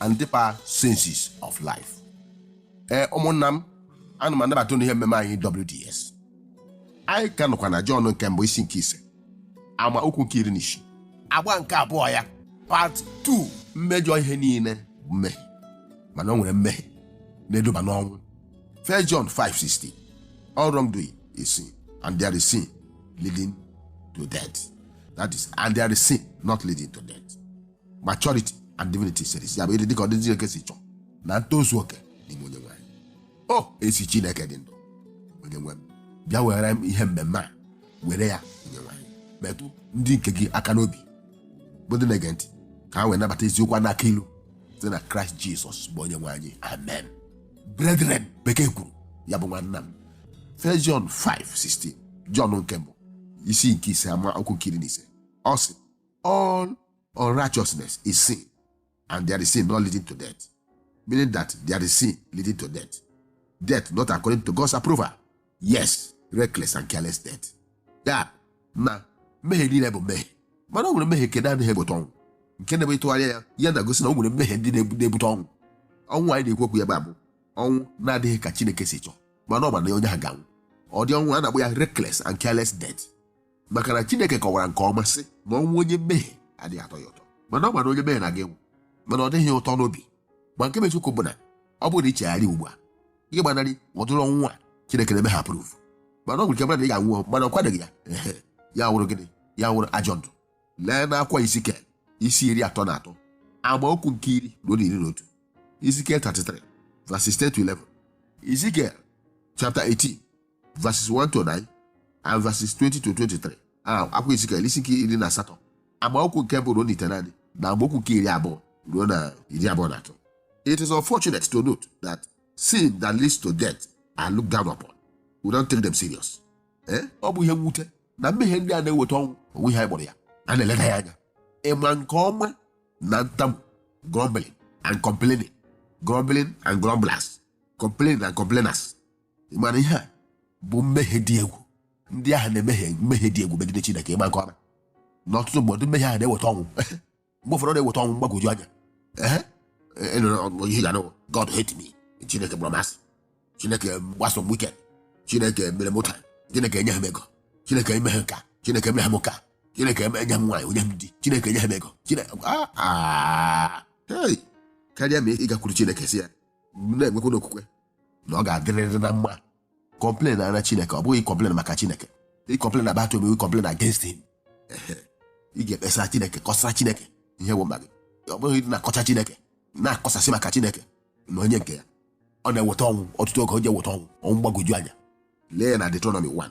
and deeper senses of life. Ee ụmụnna m ana m anabata unu n'ihe mmemme anyị WDS. Anyị ka nọkwa na Jọn nke mbụ isi nke ise ama okwu nke iri na isii agba nke abụọ ya part 2 mmejọ ihe niile bụ mmehie mana o nwere mmehie na-eduba n'ọnwụ 1 John 5:16 all wrongdoing is sin and there is sin leading to death that is and there is sin not leading to death maturity and divinity series ya bụ ịdị dịka ọdịdị Chineke si chọọ na ntozu oke n'ime onye nwe anyị o ezi Chineke dị ndụ onye nwe m bịa were ihe mmemme a were ya onye nwe anyị metụ ndị nke gị aka n'obi bụ ndị na-ege ntị ka ha wee nabata eziokwu a na-aku ilu site na kraịst jizọs bụ onye nwe anyị amen brethren bekee kwuru ya bụ nwanna m First John 5:16 John nke mbụ isi nke ise ama okwu nke iri na isii ọ sị all unrighteousness is sin, and there is sin not leading to death, meaning that there is sin leading to death. Death not according to God's approval. Yes, reckless and careless death. Ya na mmehie niile bụ mmehie mana o nwere mmehie nke na-anaghị ebute ọnwụ nke na-ebe ịtụgharị ya ya na-egosi na o nwere mmehie ndị na-ebute ọnwụ ọnwụ anyị na-ekwu okwu ya bụ ọnwụ na-adịghị ka Chineke si chọọ mana ọ ma na onye ahụ ga-anwụ ụdị ọnwụ a na-akpọ ya reckless and careless death maka na chineke kọwara nke ọma sị na ọnwụ onye mmehie adịghị atọ ya ụtọ mana ọ ma na onye mmehie na-aga ịnwụ mana ọ dịghị ụtọ n'obi ma nke bụ eziokwu bụ na ọ bụrụ na i chegharịa ugbu a gị agbanarị ụdịrị ọnwụ a chineke na-emeghị approve mana ọ nwere ike mmadụ ị ga-anwụ mana ọ kwadoghị ya ehe ya wụrụ gịnị ya wụrụ ajọ ndụ lee n'akwụkwọ Ezikiel isi iri atọ na atọ amaokwu nke iri ruo iri na otu Ezekiel 33 verses 10 to 11 Ezekiel chapter 18 verses 1 to 9 and verses 20 to 23 akwụkwọ Ezikiel isi nke iri na asatọ amaokwu nke mbụ ruo n'itenaanị na amaokwu nke iri abụọ ruo na iri abụọ na atọ it is unfortunate to note that sin that leads to death are looked down upon we don't take them serious eh? ọ bụ ihe mwute na mmehie ndị a na-eweta ọnwụ o nweghị ihe anyị kpọrọ ya a na-eleda ya anya ị ma nke ọma na ntamu grumbling and complaining grumbling and grumblers complaining and complainers ị ma na ihe a bụ mmehie dị egwu ndị ahụ na-emehie mmehie dị egwu megide chineke ị ma nke ọma na ọtụtụ mgbe ụdị mmehie ahụ na-eweta ọnwụ mgbe ụfọdụ ọ na-eweta ọnwụ mgbagwoju anya Ehe. Ị nụrụ ọnụ ihe ị ga-anụ bụ, god hate me chineke kpọrọ m asị chineke gbara m wicked chineke mere m ụta chineke enyeghị m ego chineke emeghị nke a chineke emeghị m nke a chineke eme- enyeghị m nwaanyị o nyeghị m di chineke enyeghị m ego chineke Ah, ah. Hey! karịa ma ị gakwuru chineke sị ya na-enwekwa n'okwukwe na ọ ga-adịrịrị na mma complainara chineke ọ bụghị ịcomplain maka chineke ịcomplain about him or complain against him Ehe. ị ga-ekpesara chineke kọsara chineke ihe bụ mkpa gị ọ bụghị ịdị na-akọcha chineke na-akọsasị maka chineke na onye nke ya ọ na-eweta ọnwụ ọtụtụ oge ọ na-eweta ọnwụ ọnwụ mgbagwoju anya lee ya na Deuteronomy 1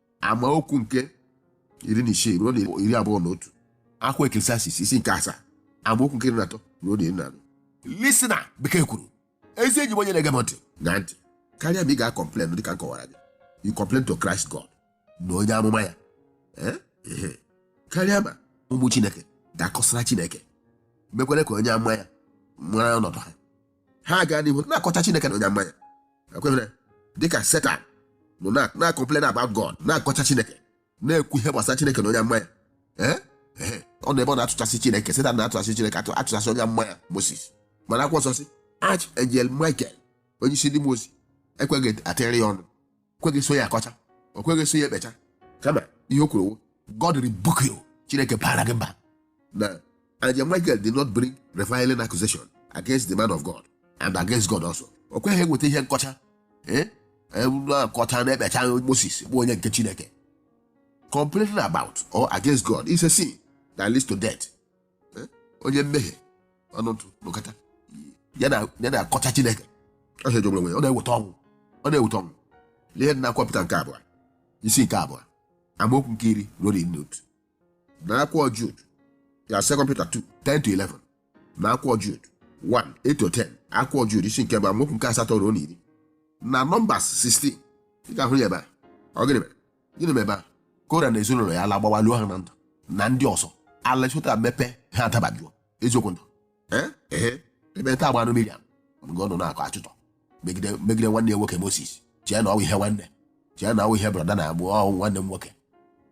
amaokwu nke iri na isii ruo na iri abụọ na otu akwụkwọ Ecclesiastes isi nke asaa amaokwu nke iri na atọ ruo na iri na anọ listener bekee kwuru ezi enyi m onye na-ege m ntị na ntị karịa ma ị ga-acomplain dịka m kọwara gị you complain to Christ God na onye amụma ya Eh? Ehe. karịa ma ụmụ Chineke ga-akọsara Chineke mekwere ka onye amụma ya mara ọnọdụ ha ha gaa n'ihu na-akọcha chineke na onye amụma ya ekwere dịka setan nọ na-acomplain about god na-akọcha chineke na-ekwu ihe gbasara chineke na onye amụma ya eh? Eh. ọ nọ ebe ọ na-atụchasị chineke setan na-atụchasị chineke atụ atụchasị onye amụma ya moses mana akwụkwọ nsọ sị archangel michael onye isi ndị mmụọ ozi ekweghị atịrị ya ọnụ kweghị eso ya akọcha o kweghị eso ya ekpecha kama ihe o kwuru wụ god rebuke you chineke bara gị mba na angel michael did not bring reviling accusation against the man of god and against god also o kweghị eweta ihe nkọcha ee akọcha na-ekpecha moses bụ onye nke chineke complaining about or against god is a sin that leads to death Eh? onye mmehie ọnụtụ n'ụkata ya na-akọcha chineke ọ ihe jọgburu onwe ya ọ na-eweta ọnwụ ọ na-eweta ọnwụ lee ya n'akwụkwọ Pita nke abụọ isi nke abụọ amaokwu nke iri ruo na iri otu na akwụkwọ Jud ya second Peter 2 10 to 11 na akwụkwọ Jud 1 8 to 10 akwụkwọ Jud isi nke mbụ amaokwu nke asatọ ruo na iri na Numbers 16 ị ga-ahụ ya ebe ahụ gịnị mere gịnị mere ebe a kora na ezinụlọ ya ala gbawa loo ha na ndụ na ndị ọzọ ala chota mepe ha adabajuo eziokwu ndụ Eh? ehe ekpenta agbanụ miriam mgbe ọ nọ na-akọ akụkọ megide megide nwanne ya nwoke moses chee na ọ wụ ihe nwanne chee na ọ wụ ihe brother na agbụ ọ wụ nwanne m nwoke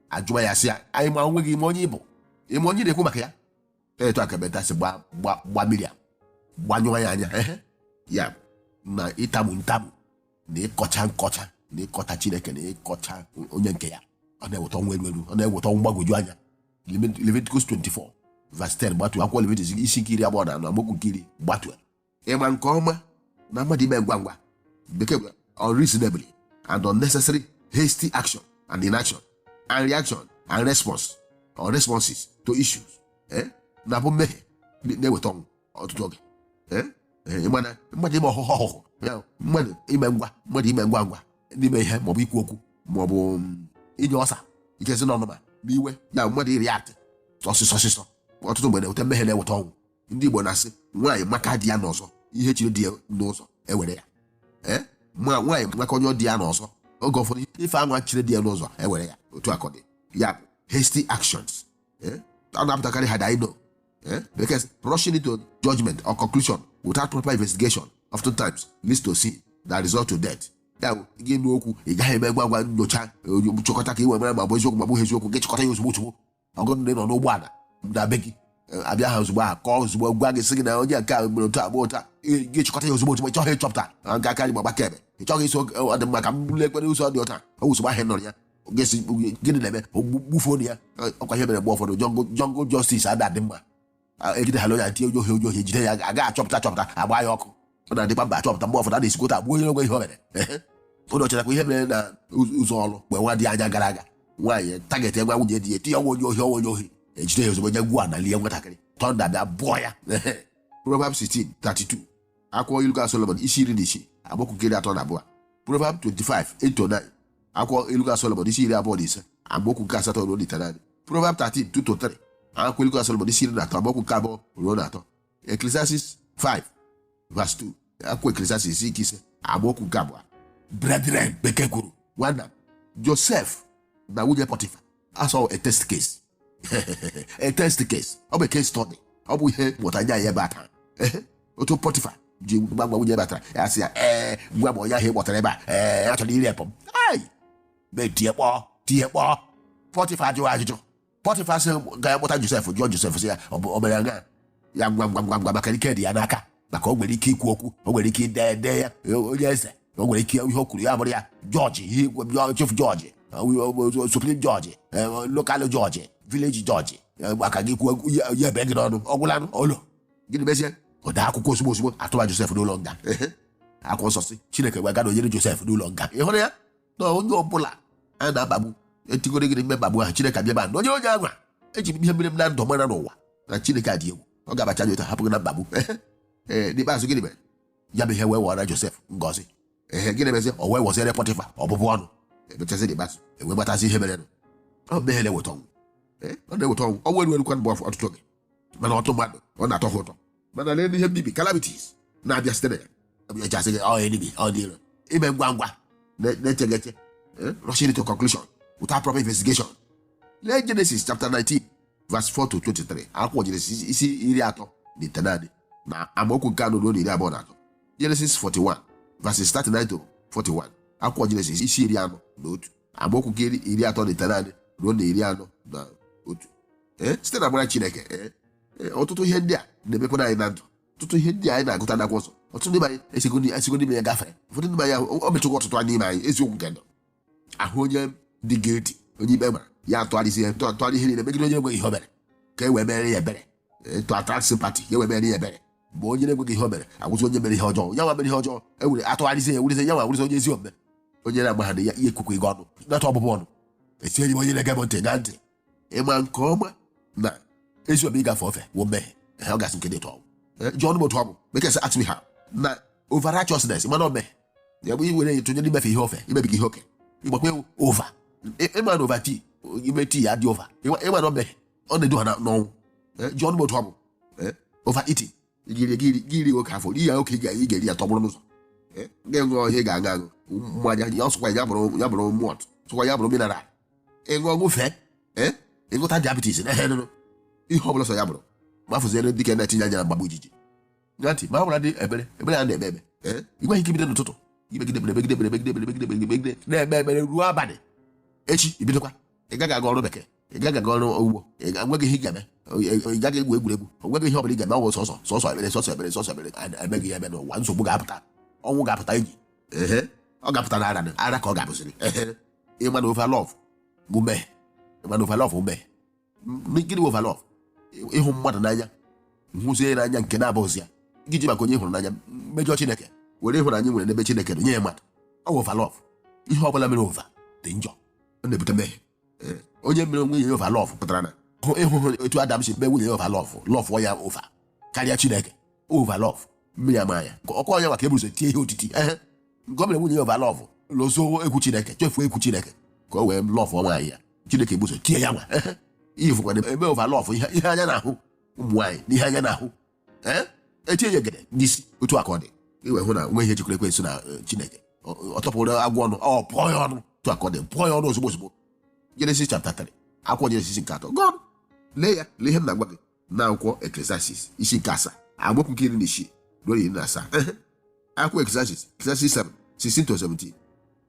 ajụwa ya sị ya anyị ma onwe gị ma onye ị bụ ị ma onye ị na-ekwu maka ya etu a ka ekpenta si gba gba gba miriam gbanyụọ ya anya ehe ya bụ na ịtamu ntamu na ịkọcha nkọcha na ịkọcha chineke na ịkọcha onye nke ya ọ na-eweta ọnwụ erughị eru ọ na-eweta ọnwụ mgbagwoju anya Leviticus 24 verse 10 gbatuo akwụkwọ Leviticus isi nke iri abụọ na anọ amaokwu nke iri gbatuo ị ma nke ọma na mmadụ ime ngwa ngwa bekee unreasonably and unnecessary hasty action and inaction and reaction and response or responses to issues eh? na-abụ mmehie na-eweta ọnwụ ọtụtụ oge ịgbana mmadụ ime ọhụhụ ọhụhụ ya mmadụ ime ngwa mmadụ ime ngwa ngwa n'ime ihe maọbụ ikwu okwu maọbụ mm, inye ọsa ike si n'ọnụma n'iwe ya mmadụ ịreact ọsịsọ ọsịsọ ọtụtụ mgbe na-eweta mmehie na-eweta ọnwụ ndị Igbo na-asị nwaanyị maka di ya n'ọzọ ihe chere di ya n'ụzọ ewere ya ee ma nwaanyị maka onye di ya n'ọzọ oge ụfọdụ ife anwa chere di ya n'ụzọ ewere ya otu a ka ọ dị ya bụ hasty actions eh? a na-apụtakarị ha daino eh? because rushing into judgment or conclusion without proper investigation oftentimes leads to sin that result to death ya bụ gị nụ okwu ị gaghị eme ngwa ngwa nyocha nchọpụta ka ị wee mara ma ọ bụ eziokwu ma ọ bụghị eziokwu gị chịkọta ya ozugbo ozugbo ọgụ ndị nọ n'ụgbọala na be gị abịa ha ozugbo aha kọọ ozugbo gwa gị sị gị na onye nke a mere otu agba ụta gị chịkọta ya ozugbo ozugbo ịchọghị ịchọpụta nke aka anyị gbagba kebe ịchọghị iso ọ dị mma ka m bụrụ ekwere ụzọ dị ụta ọ wụsogbo ahịa nọrọ ya gesi gịnị na-eme gbufuo ya ọkwa ihe mere mgbe ụfọdụ jungle justice ada adị mma e jide ha loya tie onye ohi onye ohi jide ya aga achọpụta achọpụta agba ya ọkụ ọ na-adịkwa mma achọpụta mgbe ụfọdụ a na-esikota egbuo onye enweghị ihe o mere ụlọ ọchọchakwa ihe mere na ụzọ ọrụ mgbe na-adịghị anya gara aga nwaanyị target nwa nwunye di ya tinye ọnwa onye ohi ọnwa onye ohi ejide ya ozugbo nye gwuo ana lie nwatakịrị thunder bịa gbuo ya Proverbs 16 32 akwụkwọ ilu ka Solomon isi iri na isii amaokwu nke iri atọ na abụọ Proverbs 25 8 to 9 akwụkwọ ilu ka Solomon isi iri abụọ na ise amaokwu nke asatọ ruo n'itenaanị Proverb 13 2 to 3 akwụkwọ ilu ka Solomon isi iri na atọ amaokwu nke abụọ ruo na atọ Ecclesiastes 5 verse 2 akwụkwọ Ecclesiastes isi nke ise amaokwu nke abụọ brethren bekee kwuru nwanna Josef na nwunye Pọtịfa as a test case a test case ọ bụ case study ọ bụ ihe mmụta nye anyị ebe a taa Ehe, otu pọtifa ji gwa gwa nwunye ebe a tara ya sị ya ee gwa m onye ahụ ị kpọtara ebe a ee a chọrọ ịrape m ai m wee tie mkpu tie mkpu pọtifa ajụghị ajụjụ pọtifa asịghị ka ya kpọta josef jụọ josef sị ya ọ bụ o mere nga ya ngwa ngwa ngwa ngwa maka ike dị ya n'aka maka o nwere ike ikwu okwu o nwere ike ide ede ya e, onye eze o nwere ike ihe o kwuru ya bụrụ ya judge ihe ikwu- jọ- chief judge e, o- o- supreme judge e, o- local judge village judge e, maka gị kwuo ihe ihe ebe gị n'ọnụ ọ gwụlanụ olo gịnị mezie o dee akwụkwọ ozugbo ozugbo atụba josef n'ụlọ nga Ehe. akwụkwọ nsọ sị chineke wee gaa nọnyere josef n'ụlọ nga ị hụrụ ya na onye ọbụla a na-akpagbu etigoro gịrị mkpagbu ahụ chineke abịa nọnyere onye anwa e ji m ihe mere m na ndụ mara n'ụwa na chineke a dị egwu ọ ga-abacha gị ụta hapụ gị na mkpagbu ee n'ikpeazụ gịnị mere ya bụ ihe wee wọọrọ josef ngọzi ee gịnị mezi o wee wọziere pọtịfa ọbụbụ ọnụ emechazi n'ikpeazụ e wee matazi ihe merenụ ọ mmehie na-eweta ọnwụ Ee, ọ na-eweta ọnwụ ọnwụ erughị eru kwa mgbe ọtụtụ oge mana ọtụtụ mmadụ ọ na-atọ ha ụtọ mana lee ihe mbibi calamities na-abịa site na ya ọ bụ ya e ji asị gị ọ enemy ọ ndị iro ime ngwa ngwa na- na-eche gị eche Eh, rushing to conclusion without proper investigation lee Genesis chapter 19 verse 4 to 23 akwụkwọ Jenesis isi iri atọ na itenaanị na amaokwu nke anọ ruo na iri abụọ na atọ Genesis 41 verses 39 to 41 akwụkwọ Jenesis isi iri anọ na otu amaokwu nke iri atọ na itenaanị ruo na iri anọ na otu eh, site n'amara Chineke eh, eh, ọtụtụ ihe ndị a na-emekwana anyị na ndụ ọtụtụ ihe ndị anyị na-agụta n'akwụkwọ nsọ ọtụtụ ndị anyị esigo n'ime ya gafere ụfọdụ ndị anyị o mechụkwa ọtụtụ anyị n'ime anyị eziokwu nke ndụ ahụ onye dị guilty onye ikpe mara ya atụgharịzi ya tụọ- tụgharị ihe niile megide onye enweghị ihe o mere ka e wee mere ya ebere to attract sympathy ka e wee mere ya ebere mgbe onye na-enweghị ihe o mere awụzi onye mere ihe ọjọọ ya nwa mere ihe ọjọọ e were atụgharịzi ya wụrụzi ya nwa wụrụzi onye ezi omume onye na-agbaghadị ya ihe kwukwa ịga ọnụ nata ọbụbụ ọnụ etinyere m onye na-ege m ntị ṅa ntị ị ma nke ọma na ezi omume ịgafe ofe wụ mmehie ehe ọ gasị nke dị tọọ jụọ ọnụ m otu ọ bụ bekee sị atụghị ha na over righteousness mana ọ mmehie ya bụ iwere ya tụnye n'imefe ihe ofe imebiga ihe oke ịgbakwa ewu over ị ma na over tii ime tii ya dị over ị ma na ọ mmehie ọ na-edu ha n'ọnwụ ji ọnụ otu ọ bụ over eating iri iri oke afọ n'ihi ya oke ị ga-eri ya tọgbọrọ n'ụzọ ga-enwe ọhịa ga-aṅụ aṅụ mmanya ya ọ sọkwa ya bụrụ malt sọkwa ya bụrụ mineral ị ṅụọ ṅụfee ị ṅụta diabetes na ihe ọbụla sọ ya bụrụ ma fụziere dike na-etinye anya na mgbagbu ijiji ṅa ntị ma ọ bụrụdị ekpere ekpere a na-eme eme ee ị nweghị ike ibido n'ụtụtụ i megide ekpere megide ekpere megide ekpere megide ekpere megide na-eme ekpere ruo abalị echi i bidokwa ị gaghị aga ọrụ bekee ị gaghị aga ọrụ ugbo ị ga- nweghị ihe ị ga-eme ị gaghị egwu egwuregwu o nweghị ihe ọ bụla ị ga-eme ọ wụ sọsọ sọsọ ekpere sọsọ ekpere sọsọ ekpere a na-emeghị ya eme n'ụwa nsogbu ga-apụta ọnwụ ga-apụta enyi ehe ọ ga-apụta na ara ara ka ọ ga-abụziri ehe ị ma na over love bụ mmehie ị ma na over love bụ mmehie gịnị bụ over love ịhụ mmadụ n'anya hụzie n'anya nke na-abụghịzi ya gị ji maka onye hụrụ n'anya mejọ chineke were ịhụnanya nwere n'ebe chineke nọ nye ya mmadụ ọ bụ over love ihe ọ bụla e mere over dị njọ ọ na-ebute mmehie onye mere nwunye ya over love pụtara na ị hụhụ etu adam si mee nwunye ya over love love ya over karịa chineke over love mmiri ama ya ka ọkụ ọnya maka e bu ụzọ tie ihe otiti ehe nke ọ mere nwunye ya over love lozọọ egwu chineke chefuo egwu chineke ka o wee love nwaanyị ya chineke ebu ụzọ tie ya nwa ehe ihe fụkwana eme over love ihe ihe anya na-ahụ ụmụ nwaanyị na ihe anya na-ahụ ee etinye ya gede n'isi otu aka ọ dị iwe hụ na nwe ihe jikwara ekwensu na eh, chineke Ọ- ọ tọpụrụ agwọ ọnụ ọ bụọ ya ọnụ otu aka ọ dị bụọ ya ọnụ ozugbo ozugbo Genesis chapter 3 akwụkwọ jenesis nke atọ gụọ lee ya lee ihe m na-agwa gị na akwụkwọ Eklesiastis isi nke asaa amaokwu nke iri na isii ruo iri na asaa akwụkwọ Eklesiastis Ecclesiastes 7 16 to 17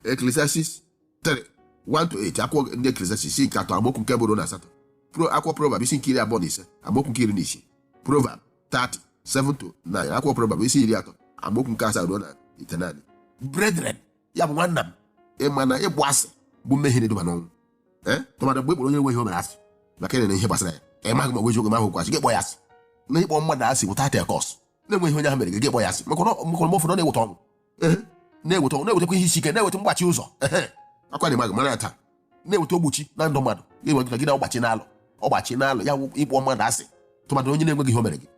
Ecclesiastes 3 1 to 8 akwụkwọ ndị Eklesiastis isi nke atọ amaokwu nke mbụ ruo na asatọ pro akwụkwọ Proverb isi nke iri abụọ na ise amaokwu nke iri na isii Proverb 30 7 to 9 akwụkwọ Proverb isi iri atọ amaokwu nke asaa ruo na itenaanị brethren ya bụ nwanna m ị ma na ịkpọ asị bụ mmehie na-eduba n'ọnwụ ee tụmadụ mgbe ị kpọrọ onye nweghị ihe o mere asị maka ị nụrụ ihe gbasara ya ị maghị ma ọ bụ eziokwu ma ọ wụkwa asị gị kpọ ya asị na ịkpọ mmadụ asị without a cause na-enweghị ihe onye ahụ mere gị gị kpọ ya asị maka na ọ- maka na mgbe ụfọdụ ọ na-eweta ọnwụ Ee, na-eweta ọnwụ na-ewetakwa ihe isi ike na-eweta mgbachi ụzọ ehe akwa na ị maghị mara ya taa na-eweta ọgbachi na ndụ mmadụ gị nwere gị na ọgbachi n'alụ ọgbachi n'alụ ya wụ ịkpọ mmadụ asị tụmadụ onye na-enweghị ihe o mere gị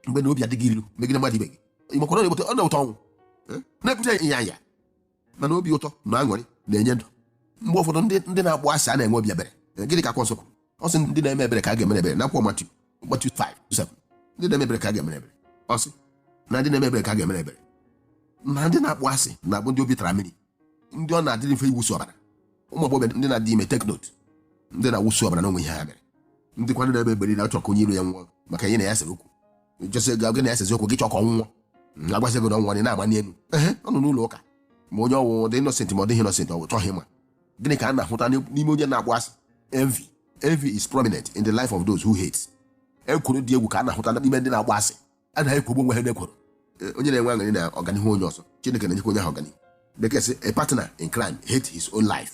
mgbe na obi adị gị ilu megide mmadụ ibe gị ị makwara ọ na-eweta ọ na-eweta ọnwụ Ee, na-ebute ịnyanya mana obi ụtọ na aṅụrị na-enye ndụ mgbe ụfọdụ ndị ndị na-akpọ asị anaghị enwe obi ebere gịnị ka akwụkwọ nsọ kwuru ọ sị ndị na-eme ebere ka a ga-emere ebere n'akwụkwọ matiu Matthew 5 7 ndị na-eme ebere ka a ga-emere ebere ọ sị na ndị na-eme ebere ka a ga-emere ebere na ndị na-akpọ asị na-abụ ndị obi tara mmiri ndị ọ na-adịrị mfe ịwụsị ọbara ụmụ agbọghọbịa ndị na-adị ime take note ndị na-awụsị ọbara na-enweghị ihe ha mere ndị kwanụ na-eme ebere anaghị achọ ka onye iro ya nwụọ maka ya na ya sere okwu jose ga gị na-esezi okwu gị chọọ ka ọ nwụọ Mm, agwasị gị na ọ nwụọ na ị na-agba n'elu ehe ọ nọ n'ụlọ ụka ma onye ahụ ọ dị innocent ma ọ dịghị innocent ọ bụ ị chọghị ịma gịnị ka a na-ahụta n'ime onye na-akpọ asị envy envy is prominent in the life of those who hate ekworo dị egwu ka a na-ahụta n'ime ndị na-akpọ asị ha na-ekwogbu onwe ha n'ekworo Eh, onye na-enwe aṅụrị na ọganihu onye ọzọ chineke na-enyekwa onye ahụ ọganihu bekee sị a partner in crime hate his own life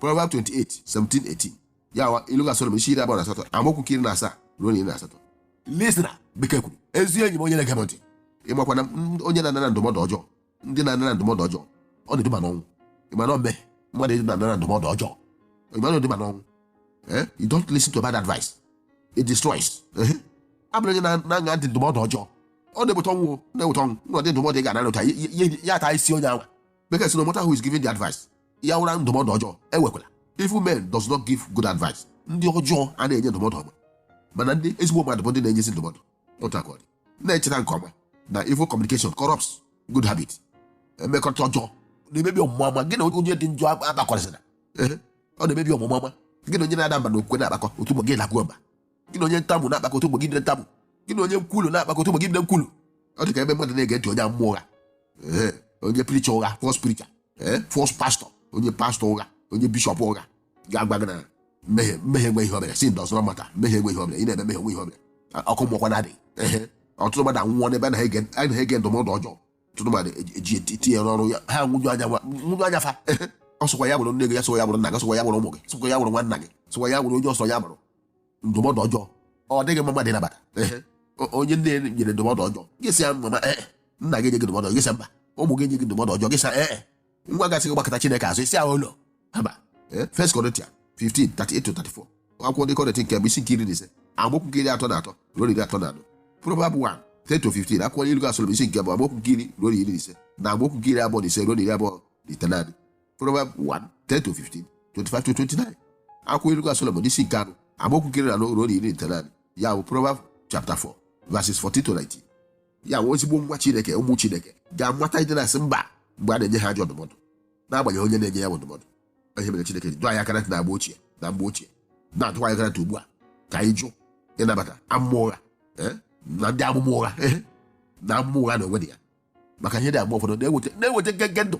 Proverbs 28 17 18 ya wụ ilu nke Solomon isi iri abụọ na asatọ amaokwu nke iri na asaa ruo na iri na asatọ listen na bekee kwuru ezi enyi m onye na-ege m ntị ị makwa na m- onye na-anara ndụmọdụ ọjọọ ndị na-anara ndụmọdụ ọjọọ ọ na-eduba n'ọnwụ ị ma na ome mmadụ ịdị na-anara ndụmọdụ ọjọọ ị ma na ọ na-eduba n'ọnwụ Eh? you don't listen to bad advice it destroys Eh? ị bụrụ onye na- na-aṅa ntị ndụmọdụ ọjọọ ọ na-eweta ọnwụ o, na-eweta ọnwụ nwa dị ndụmọdụ ị ga-anara ọ ta ya- ya ya ata isi onye anwa bekee sị no matter who is giving the advice ya wụrụ ndụmọdụ ọjọọ ewekwala evil men does not give good advice ndị ọjọọ anaghị enye ndụmọdụ ọma mana ndị ezigbo mmadụ bụ ndị na-enye ezi ndụmọdụ otu a ka ọ dị na-echeta nke ọma na evil communication corrupts good habit mmekọta ọjọọ na-emebi omume ọma gị na onye dị njọ akpakọzina Ehe, ọ na-emebi omume ọma gị na onye na-ada mba n'okwukwe na-akpakọ otu ụbọchị ị dakwa mba gị na onye ntamu na-akpakọ otu ụbọchị ndị ntamu gị na onye nkwulu na-akpakọ otu ụbọchị ndị nkwulu ọ dị ka ebe mmadụ na-ege ntị onye amụma ụgha Ee, onye preacher ụgha false preacher ee false pastor onye pastor ụgha onye bishop ụgha ga-agwa gị na mmehie mmehie enweghị ihe o mere sin does not matter mmehie enweghị ihe o mere ị na-eme mmehie enweghị ihe o mere A- ọkụ mmụọkwa na-adị Ehe. ọtụtụ mmadụ anwụọ n'ebe ha na-ege- ha na-ege ndụmọdụ ọjọọ ọtụtụ mmadụ eji- eji eti- etinye ya n'ọrụ ya ha nwụju anya nwa- nwụju anya fa Ehe. ọ sọkwa ya bụrụ nne gị ya sọkwa ya bụrụ nna gị sọkwa ya bụrụ ụmụ gị sọkwa ya bụrụ nwanna gị sọkwa ya bụrụ onye ọ sọ ya bụrụ ndụmọdụ ọjọọ ọ dịghị mma mmadụ ịnabata Ehe. O- onye nne ya nyere ndụmọdụ ọjọọ gị sị ya mama ee nna gị enye gị ndụmọdụ ọjọọ gị sị ya mba ụmụ gị enye gị ndụmọdụ ọjọọ gị sị ya ee nwa gị sị gị gbakụta chineke azụ isi ahụ ụlọ haba First Corinthians 15 33 to 34 akwụkwọ ndị kọrịntị nke mbụ isi nke iri na ise amaokwu nke iri atọ na atọ ruo iri atọ na anọ Proverb 1 10 to 15 akwụkwọ ilu nke Solomon isi nke mbụ amaokwu nke iri ruo iri na ise na amaokwu nke iri abụọ na ise ruo iri abụọ na itenaanị Proverbs 1 10 to 15 25 to 29 akwụkwọ ilu Solomon isi nke anọ amaokwu nke iri na anọ ruo na iri na itenaanị ya bụ Proverbs chapter 4 verses 14 to 19 ya wụ ezigbo nwa Chineke ụmụ Chineke ga-amata ịdị na-asị mba mgbe a na-enye ha ajọ ndụmọdụ n'agbanyeghị onye na-enye ya bụ ndụmọdụ ihe mere Chineke ji dọọ anyị aka na agba ochie na mgbe ochie na-adọkwa anyị aka ugbu a ka anyị jụ ịnabata amụma ụgha eh, na ndị amụma ụgha eh, na amụma ụgha na onwe dị ya maka ihe dị agba ụfọdụ na-eweta na-eweta ngenge ndụ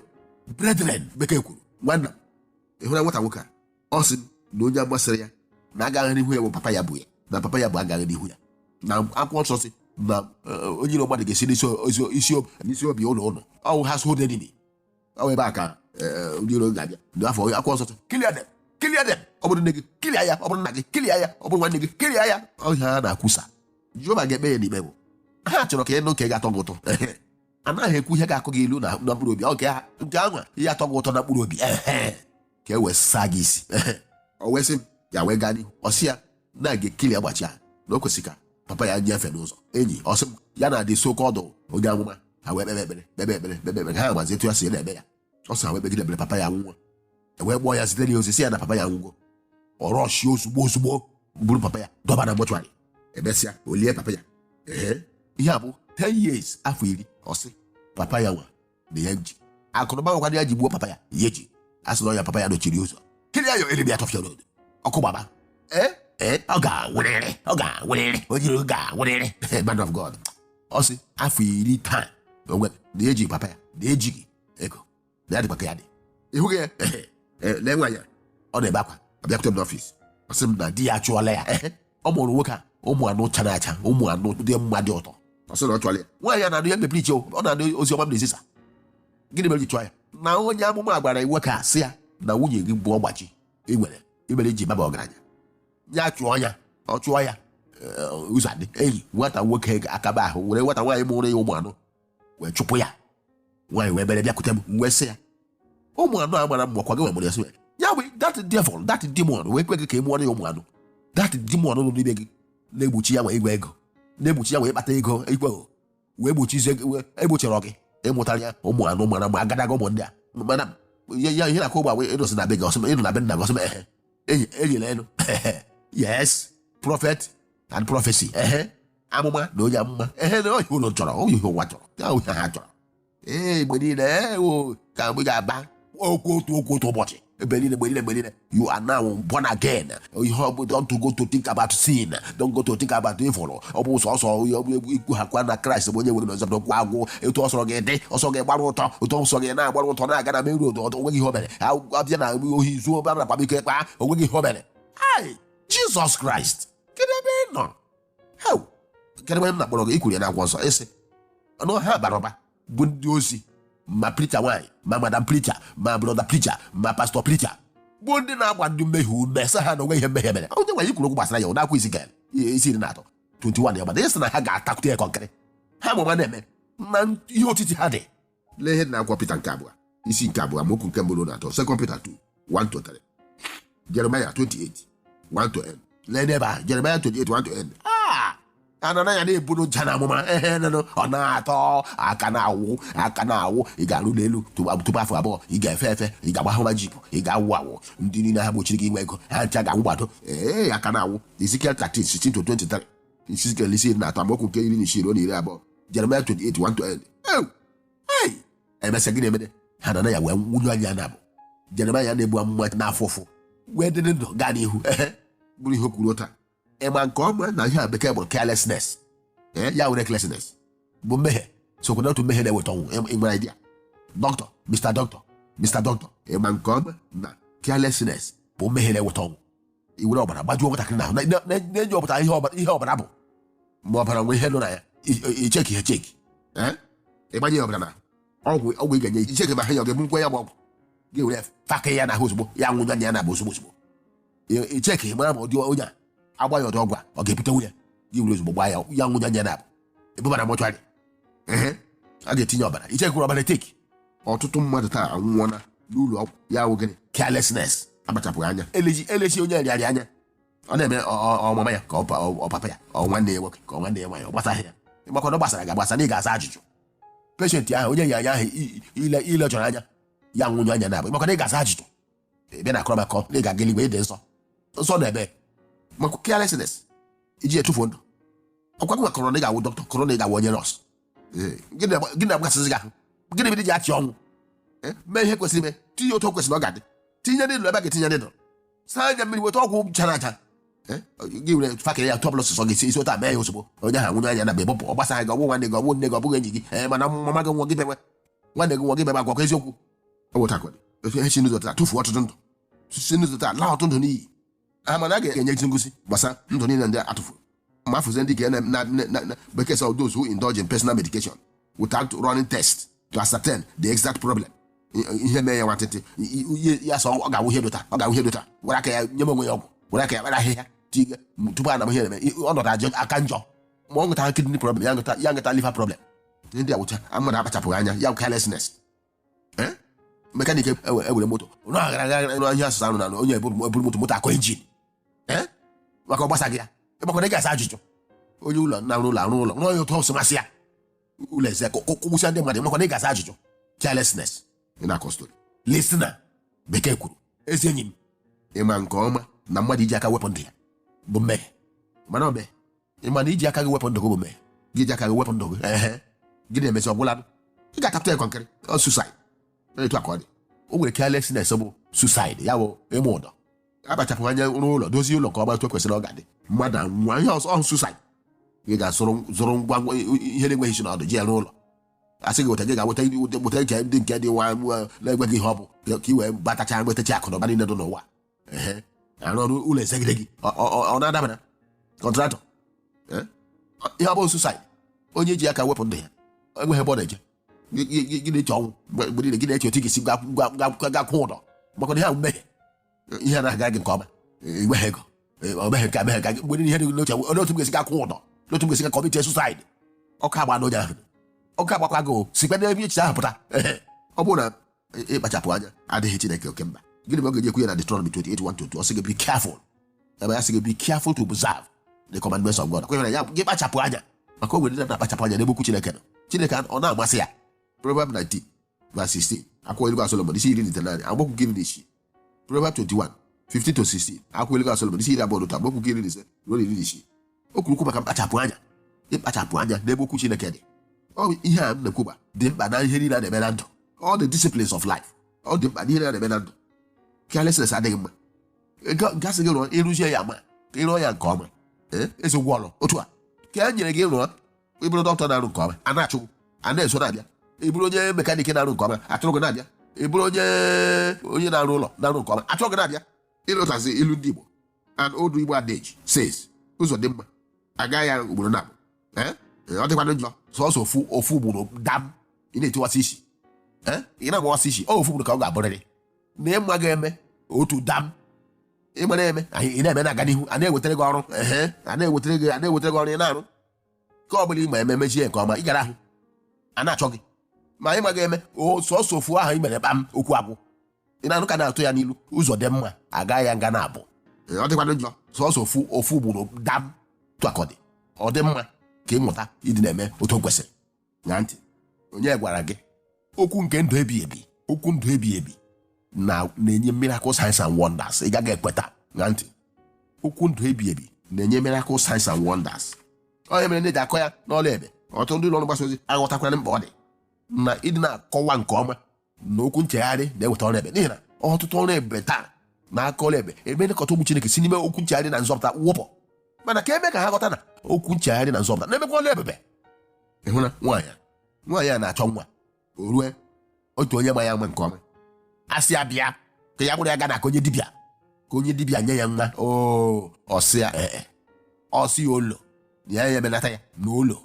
brethren bekee kwuru nwanna m ị hụla nwata nwoke a ọ sị m na onye amụma sịrị ya na agaghị n'ihu ya bụ papa ya bụ ya na papa ya bụ agaghị n'ihu ya na akwụkwọ nsọ sị na eh, onye iro mmadụ ga-esi n'isi o- isi o- isi obi ụlọ ụlọ ọ wụ ha so dị ọ wụ ebe a ka eh, ndị iro ga-abịa ndị afọ akwụkwọ nsọ sị, clear dem clear dem ọ bụrụ nne gị clear ya ọ bụrụ nna gị clear ya ọ bụrụ nwanne gị clear ya ọ ihe a na-akwusa Jehova ga-ekpe ya n'ikpe bụ ha chọrọ ka ị nụ nke ga-atọ gị ụtọ anaghị ekwu ihe ga-akụ gị ilu na na mkpụrụ obi ọ nke ha nke anwa ihe atọ gị ụtọ na mkpụrụ obi ehe ka e wee saa gị isi o wee sị m ya wee gaa n'ihu ọ sị ya na a ga-eclear ọgbachi ya na o kwesịrị ka papa ya nyefe n'ụzọ enyi ọ sị m ya na-adị so oke ọdụ onye amụma ha wee kpebe ekpere kpebe ekpere kpebe ekpere ha mazi etu ya si na-eme ya ọ sị ha wee kpegide ekpere papa ya nwụọ e wee kpọọ ya zitere ya ozi sị ya na papa ya nwụgo ọ rushie ozugbo ozugbo buru papa ya dọba na mortuary e mesịa o lie papa ya ee ihe a bụ 10 years afọ iri ọ sị papa ya nwa na ya ji akụnụba nwekwara ya ji gbuo papa ya ya ji asị na ọ ya papa ya dochiri ụzọ clear ya o elimi atọfịa n'odo ọkụ gbaba ee ee ọ ga-anwụrịrị ọ ga-anwụrịrị o jiri ga-anwụrịrị man of god ọ sị afọ iri taa na onwe na eji papa ya na ejighị ego na ya dịkwa ka ya dị ị hụghị ya Ee, lee nwaanyị a ọ na-ebe akwa ọ bịakwute m n'office ọ sị m na di ya achụọla ya ọ mụrụ nwoke a ụmụ anọ chara acha ụmụ anọ dị mma dị ụtọ ọ sị na ọ chụrụ ya nwaanyị a na-anụ ya mepere iche ọ na-anụ ozi ọma m na-ezisa gịnị mere o ji chụọ ya na onye amụma gwara ya nwoke a sị ya na nwunye gị bụ ọgbachi ị nwere imere iji baba ọgaranya ya chụọ ya ọ chụọ ya eh, ụzọ adị enyi nwata nwoke ga-akaba ahụ were nwata nwaanyị mụrụ ya ụmụ anọ wee chụpụ ya nwaanyị wee bere bịakwute m wee sị ya ụmụ anọ a mara mma kwa gị nwere ya sị ya bụ dat devil dat demon wee kwe gị ka ị mụọrọ ya ụmụ anọ dat demon nọ n'ime gị na-egbochi ya nwee igwe ego na-egbochi ya wee kpata ego igwe ego wee gbochizie egbochirọ gị ịmụtara ya ụmụ anọ mara mma agadaga ụmụ ndị a mana ya ya ihe na-akụ ugbu a gwa ịnọsị na be gị ọ sị m ị nọ na be nna gị ọ sị m ehe enyela elu yes prophet and prophecy ehe amụma na onye amụma ehe na ọ ihe unu chọrọ ọ ihe ụwa chọrọ ya ọ ihe ha chọrọ ee mgbe niile ee o ka mgbe ga-aba okwu otu okwu otu ụbọchị ebe niile mgbe niile mgbe niile you are now born again ihe ọ bụ don't go to think about sin don't go to think about evil ọ bụ sọsọ onye ọ bụ egwu ikwu ha kwa na kraịst bụ onye nwere na ọzọdọ kwa agwụ etu ọ sọrọ gị dị ọ sọ gị gbara ọtọ ọtọ ọ sọ gị na-agbara ọtọ na-aga na main road ọtọ onweghị ihe o mere Akwụkwọ abịa na ohi zuo ọbara na kpamike kpa onweghị ihe o mere ai jizọs kraịst kedu ebe ị nọ Hau! Kedụ onye m na-akpọrọ gị i kwuru ya n'akwụkwọ nsọ ị sị na ha bara ụba bụ ndị ozi ma pricha nwaanyị ma madam pricha ma brọda pricha ma pastọ pricha bụ ndị na-agba ndị mmehie ume sị ha na onweghị ihe mmehie mere onyenwe anyị kwuru okwu gbasara ya ọ n'akwụkwọ Ezikiel isi iri na atọ 21 ya gbada ị sị na ha ga-atakwute ya kọnkịrị ha ma ụma na-eme na ihe otiti ha dị lee ihe dị na akwụkwọ Pita nke abụọ isi nke abụọ amaokwu nke mbụ ruo na atọ sekọnd Pita 2 1 to 3 Jeremaya 28 1 to end lee n'ebe ahụ Jeremaya 28 1 to end Ah! Hananaya na-eburu ncha na amụma ehe nụnụ ọ na-atọ aka na-awụ aka na-awụ ị ga-arụ ụlọ elu tupu tupu afọ abụọ ị ga-efe efe ị ga-agba hummer jeep ị ga-awụ awụ ndị niile ahụ gbochiri gị inwe ego ha ncha ga-anwụ gbado ee aka na-awụ Ezekiel 13 16 to 23 Ezikiel isi iri na atọ amaokwu nke iri na isii ruo na iri abụọ Jeremaya 28 1 to end Ew! Hey! emesịa gịnị emee Hananaya wee nwụnyụọ anya naabọ Jeremaya na-ebu amụma na-afụ ụfụ wee dị ndụ gaa n'ihu ehe bụrụ ihe o kwuru taa ị ma nke ọma na ihe a bekee kpọrọ carelessness ee ya were carelessness bụ mmehie sokwa n'otu mmehie na-eweta ọnwụ Ị- ị nwere idea dọkịta Mr. Dọkịta Mr. Dọkịta ị ma nke ọma na carelessness bụ mmehie na-eweta ọnwụ i were ọbara gbajuo nwatakịrị n'ahụ na- na- na- na-enyopụtaghị ihe ọbara ihe ọbara bụ ma ọbara nwee ihe nọ na ya i- i- icheki echeki Eh? ịgbanye ya ọbara na ọgwụ ọgwụ ị ga-enye icheki ma ahụ ya ọ ga-ebunwu ya bụ ọgwụ gị were faka ya n'ahụ ozugbo ya nwụnyụọ anya ya naabọ ozugbo ozugbo I- icheki mara ma ụdị onye a agba ya ụdị ọgwụ a ọ ga-ebute ọnwụ ya gị were ozugbo gbaa ya ya nwụnyụọ anya ya naabọ ebuba na mọchụarị ehe a ga-etinye ọbara ichekirọ ọbara echeki ọtụtụ mmadụ taa anwụọna n'ụlọ ọgwụ ya wụ gịnị carelessness akpachapụghị anya eleghị eleghị onye ọrịa anya ọ na-eme ọ- ọ- ọ mama ya ka ọ pa- ọ ọ papa ya ọ nwanne ya nwoke ka ọ nwanne ya nwaanyị ọ gbasaghị ya ịmakwa na ọ gbasara gị agbasa na ị ga-aza ajụjụ peshenti ahụ onye ọrịa ahụ i- i- ile ile chọrọ anya ya nwụnyụọ anya naabọ ịmakwa na ị ga-aza ajụjụ ị bịa na-akọrọ m akụkọ na ị ga-aga eluigwe ịdị nsọ nsọ na ebe maka carelessness iji etufuo ndụ ọkwa gịwa kọrọ na ị ga-awụ dọkịta kọrọ na ị ga-awụ onye nọọsụ Ee, gịnị na- gịnị na-agbasịzi gị ahụ gịnị mere i ji achị ọnwụ Ee, mee ihe kwesịrị ime tinye otu o kwesịrị ọ ga-adị tinye needle ebe a ga-etinye needle saa anya mmiri weta ọgwụ chara aja Ee, gị were fakịrị ya tọbụl sọsọ gị si isi otu a mee ya ozugbo onye ahụ nwụnyụọ anya naabọ ọ gbasarọ gị ọ bụghị nwanne gị ọ bụghị nne gị ọ bụghị enyi gị ee mana mama gị nwụọ gị bewe nwanne gị nwụọ gị bewe agwakọ eziokwu ewetakwara otu ihe si n'ụzọ otu a tụfuo ọtụtụ ndụ si n'ụzọ otu a laa ọtụtụ ndụ n'iyi a ma na a ga-enyezi ngụzi gbasara ndụ niile ndị a tụfuru ma a fụzie ndị a na bekee sị those who indulge in personal medication without running test to ascertain the exact problem ihe mee ya nwantịntị ya sị ọ ga-awụ ihe dị otu a ọ ga-awụ ihe dị otu a were aka ya nyewe onwe ya ọgwụ were aka ya kpara ahịhịa tiga tupu a ma ihe na-eme ọnọdụ ajọ aka njọ ma ọ nwetara kidney problem ya nweta liver problem ndị a wụcha mmadụ akpachapụghị anya ya carelessness Eh? mekanik ewere ewere moto rụọ aghara aghara nụ ihe asụsụ anụ na anụ onye eburu eburu moto moto akọ injin Eh? maka ọ gbasaghị ya ị makwa na ị ga-aza ajụjụ onye ụlọ na-arụ ụlọ arụ ụlọ rụọ ya otu o si masị ya ụlọ eze ka gbusịa ndị mmadụ ị makwa na ị ga-aza ajụjụ carelessness ị na-akọ story listener bekee kwuru ezi enyi m ị ma nke ọma na mmadụ iji aka wepụ ndụ ya bụ mmehie mana ọ bụ ị ma na iji aka gị wepụ ndụ gị ọ bụ mmehie gị ji aka gị wepụ ndụ gị ehe gị na-emezi ọgwụla ị ga-akpata ekwa nkịrị ọ suicide etu a ka ọ dị o nwere carelessness bụ suicide ya bụ mmadụ akpachapụghị anya rụọ ụlọ dozie ụlọ nke ọma etu o kwesịrị ọ ga-ada mmadụ anwụọ ihe ọzọ ọ wụ suicide gị gaa zụrụ zụrụ ngwa ngwa ihe na-enweghị isi na ọdụ ji ya rụọ ụlọ a sị gị weta gị gaa weta weta nke ndị nke dị nwa nwa na-enweghị ihe ọ bụ ka i wee kpatacha nwetacha akụ na ụba niile dị n'ụwa ehe a rụọ ụlọ ezegide gị ọ- ọ ọ- ọ na-adabara contractor Eh? Ọ- ihe ọ bụ suicide onye ji aka wepụ ndụ ya enweghị ebe ọ na-eje Gị- gị gị- gị na-eche ọnwụ mgbe mgbe niile gị na-eche otu ị ga-esi gwa- gwa- gwa- ga kwụọ ụdọ maka na ihe ahụ emehie ihe anaghị aga gị nke ọma Eh, enweghị ego Eh, ọ meghị nke a meghị nke a. mgbe niile ihe dị gị n'uche olee otu m ga-esi ga kwụọ ụdọ olee otu m ga-esi ga commit suicide ọkụ agba n'onye ahụ ọkụ agbakwa gị o sikwa n'ebe echiche ahụ pụta Ehe. ọ bụrụ na ịkpachapụ anya adịghị Chineke oke mkpa gịnị ka ọ ga-eji ekwu ya na Deuteronomy 28:1-2 ọ sị gị be careful ebe ya sị gị be careful to observe the commandments of God kwenyere ya gị kpachapụ anya maka o nwere ndị na-akpachapụ anya n'ebe okwu Chineke nọ Chineke ọ na-amasị ya Proverbs 19 verse 16 akwụkwọ ilu Solomon isi iri na itenaanị amaokwu iri na isii Proverbs 21 15 to 16 akwụkwọ ilu Solomon isi iri abụọ na otu amaokwu iri na ise ruo na iri na isii o kwuru okwu maka mkpachapụ anya ịkpachapụ anya n'ebe okwu Chineke dị ọ bụ ihe a m na-ekwuba dị mkpa na ihe niile a na-eme na ndụ all the disciplines of life ọ dị mkpa na ihe niile a na-eme na ndụ carelessness adịghị mma Ga- gasị gị rụọ ị rụzie ya ma ka ị rụọ ya nke ọma ee ezi ụgwọ ọrụ otu a ka e nyere gị rụọ ị bụrụ doctor na-arụ nke ọma a na-achọ gị, a na-eso na-abịa ị bụrụ onye mekanik na-arụ nke ọma a chọrọ gị na-abịa ị bụrụ onye onye na-arụ ụlọ na-arụ nke ọma a chọrọ gị na-abịa ị lotazie ilu ndị Igbo an old Igbo adage says ụzọ dị mma a gaa ya ugboro naabọ ọ dịkwana njọ sọsọ ofu ofu ugboro dam ị na-etiwasị isi ee ị na-agbawasị isi ọ ofu ugboro ka ọ ga-abụrịrị na ịma ga-eme otu dam ịgbara eme anyị ị na-eme na-aga n'ihu a na-ewetara gị ọrụ ehe a na-ewetara gị a na-ewetara gị ọrụ ị na-arụ ka ọ bụla ị ma eme mezie ya nke ọma ị gara ahụ a na-achọ gị ma ị maghị eme o sọsọ ofu ahụ i mere kpam okwu agwụ ị na-anụ ka a na-atụ ya n'ilu ụzọ dị mma a gaa ya nga naabọ Ee, ọ dịkwanụ njọ sọsọ ofu ofu ugboro dam tụakọdị ọ dị mma ka ị mụta ịdị na-eme otu o kwesịrị ṅaa ntị onye gwara gị okwu nke ndụ ebi ebi okwu ndụ ebi ebi na na-enye miracle signs and wonders ị gaghị ekweta ṅaa ntị okwu ndụ ebi ebi na-enye miracle signs and wonders ọ ya mere e ji akọ ya n'ọlụ ebube ọtụtụ ndị ụlọ ọrụ mgbasa ozi aghọtakwara mkpa ọ dị na ịdị na-akọwa nke ọma na okwu nchegharị na-eweta ọrụ ebube n'ihi na ọtụtụ ọrụ ebube taa na-akọ ọrụ ebube nkọta ụmụ chineke si n'ime okwu nchegharị na nzọpụta wụpụ mana ka e mee ka ha ghọta na okwu nchegharị na nzọpụta na-emekwa ọrụ ebube ịhụ na nwaanyị a nwaanyị a na-achọ nwa o nwee otu onye ma ya ama nke ọma a sị ya bịa ka ya kpọrọ ya gaa na nke onye dibịa ka onye dibịa nye ya nwa oo ọ sị ya ee ọ sị ya olo ya ya emenata ya na olo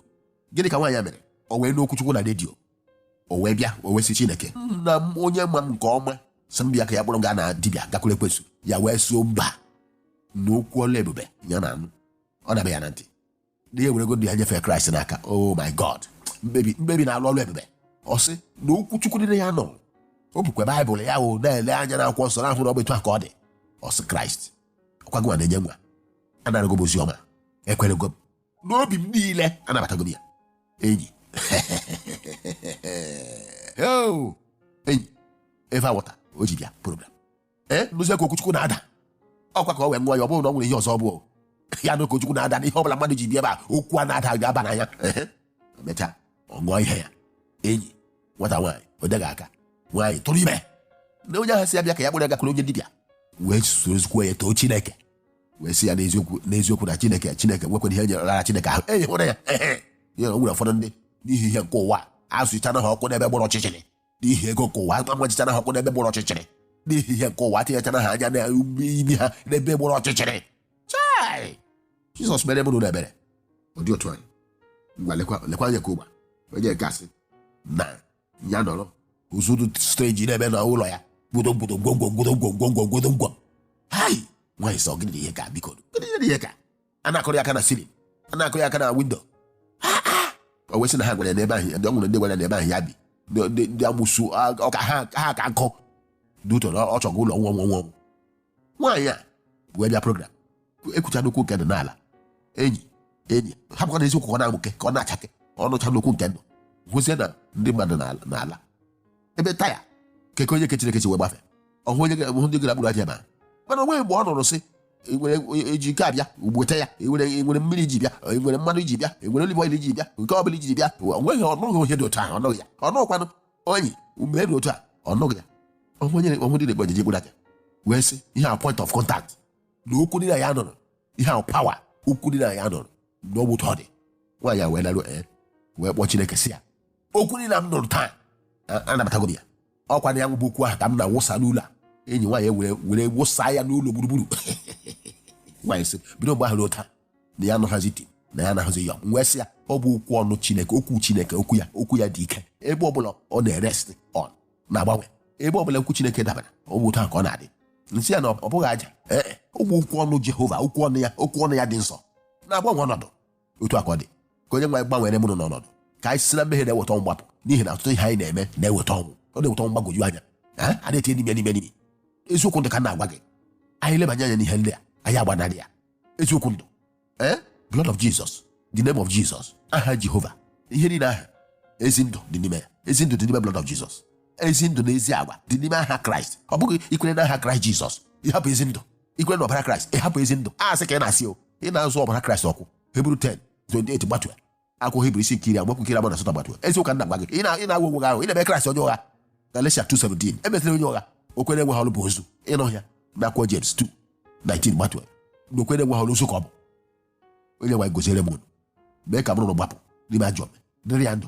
gịnị ka nwaanyị a mere o wee nụ okwu chukwu na redio o wee bịa o wee sị chineke nna m onye ma m nke ọma sị m bịa ka ya kpọrọ m gaa na dibịa gakwuru ekwensu ya wee sị mba na okwu ọlụ ebube ya na-anụ ọ na-abịa ya na ntị na ya ewerego ndụ ya nyefee kraịst n'aka oh my god mkpebi mkpebi na-alụ ọrụ ebube ọ sị na okwu chukwu niile ya nụ o bukwa baịbụl ya wee na-ele anya n'akwụkwọ nsọ na-ahụ na ọ bụ etu a ka ọ dị ọ sị kraịst ọ kwa gị nwa na-enye nwa anarago m ozi ọma ekwerego m n'obi m niile anabatago m ya enyi Yo! enyi eva wọta o ji bịa program ee nụzie ka okwu chukwu na-ada ọkwa ka ọ wee nwa ya ọ bụrụ na ọ nwere ihe ọzọ ọ bụ ya na okwu chukwu na-ada n'ihe ọbụla mmadụ ji bịa ebe a okwu a na-ada ga-aba n'anya Ehe. emechaa ọ ṅụọ ihe ya enyi nwata nwaanyị o teghị aka nwaanyị tụrụ ime na onye ahụ sị ya bịa ka ya kpọrọ ya gakwuru onye dibịa wee soro ezigbo ya too chineke wee sị ya n'eziokwu n'eziokwu na chineke chineke nwekwara ihe nyerela chineke ahụ enyi hụrụ ya ya na e nwere ụfọdụ ndị n'ihi ihe nke ụwa azọchana ha ụkwụ n'ebe gbara ọchịchịrị n'ihi ego nke ụwa agbachichana ha ụkwụ n'ebe gbara ọchịchịrị n'ihi ihe nke ụwa tinyechana ha anya na imi ha n'ebe gbara ọchịchịrị chai jizọs meere unu ebere ọ dị otu anyị ngwa lekwa lekwa anya ka ụgba onye nke a sị na ya nụrụ ụzụ dị strange na-eme n'ụlọ ya gwodogwodo gwogwo gwodogwo gwogwo gwodogwo hai nwaanyị sị ọ gịnị ihe ka biko gịnị ihe ka a na-akụrụ ya aka na ceiling a na-akụrụ ya aka na windo o wee sị na ha gwara ya n'ebe ahụ ndị ọ nwere ndị gwara ya n'ebe ahụ ya bi ndị amụsu ọka ha ka nkụ dutoro ọ chọgo ụlọ nwa nwa nwa nwaanyị a wee bịa program ekwucha n'okwu nke ndụ n'ala enyi enyi ha bụkwa na eziokwu ka ọ na-amụke ka ọ na-achake ọ nụchaa okwu nke ndụ hụzie na ndị mmadụ na-ala na-ala ebe taya keke onye nke chineke si wee gbafe ọ hụ onye ga- hụ ndị gara gburu aja na mana o nweghị mgbe ọ nụrụ sị "I nwere onye- eji nke abịa gị bute ya I nwere i nwere mmiri i ji bịa I nwere mmanụ i ji bịa I nwere olive oil i ji bịa nke ọ bụla i ji bịa o nweghị ọ nụghị onye dị otu ahụ ọ nụghị ya ọnụkwanụ onye mere otu a ọ nụghị ya ọnwụ nyere ọnwụ dị na-egbu ajiji egbu aja wee sị ihe a point of contact na okwu ndị a ya nụrụ ihe ahụ power okwu ndị a ya nụrụ na ọ bụ otu ọ dị nwaanyị a wee laruo ee wee kpọọ chineke si ya okwu niile m nụrụ taa a- anabatago m ya ọ kwa na ọ bụ okwu ahụ ka m na-awụsa n'ụlọ a enyi nwaanyị wee were wụsa ya n'ụlọ gburugburu nwaanyị sị bido mgbe ahụ ruo taa na ya anụghịzi di na ya anaghị ahụzi ya m wee sị ya ọ bụ okwu ọnụ chineke okwu chineke okwu ya okwu ya dị ike ebe ọbụla ọ na-erest on na-agbanwe ebe ọbụla okwu chineke dabara ọ bụ otu ahụ ka ọ na-adị m sị ya na ọ bụghị aja ee e, ọ bụ okwu ọnụ jehova okwu ọnụ ya okwu ọnụ ya dị nsọ na-agbanwe ọnọdụ otu a ka ọ dị ka onye nwe anyị gbanwere mụ na unu ọnọdụ ka anyị si na mmehie na-eweta ọnwụ gbapụ n'ihi na ọtụtụ ihe anyị na-eme na-eweta ọnwụ ọ na-eweta ọnwụ gbagwoju anya ọ na-etinye n'ime n'ime n'ime eziokwu ndụ ka m na-agwa gị anyị lebanye anya n'ihe ndị a anyị agbanarị ya eziokwu ndụ ee blood of jesus the name of jesus aha jehova ihe niile aha ezi ndụ dị n'ime ya ezi ndụ dị n'ime blood of jesus ezi ndụ na ezi agwa dị n'ime aha kraịst ọ bụghị i kwere n'aha kraịst jizọs ị hapụ ezi ndụ i kwere n'ọbara kraịst ị hapụ ezi ndụ asị ka ị na-asị o ị na-azọ ọbara kraịst okwu hibru 10 28 gbatuo ya akwụkwọ hibru isi nke iri amaokwu nke iri abụọ na asatọ gbatuo eziokwu ka m na-agwa gị ị na- ị na-agwa onwe gị ahụ ị na-eme kraịst onye ụgha galeshia 2 17 emesịrị onye ụgha okwukwe na-enweghị ọrụ bụ ozu ị na-ahụ ya n'akwụkwọ jems 2 19 gbatuo na okwukwe na-enweghị ọrụ ozu ka ọ bụ onye nwe anyị goziere m unu mee ka mụ na unu gbapụ n'ime ajọ omume dịrị ya ndụ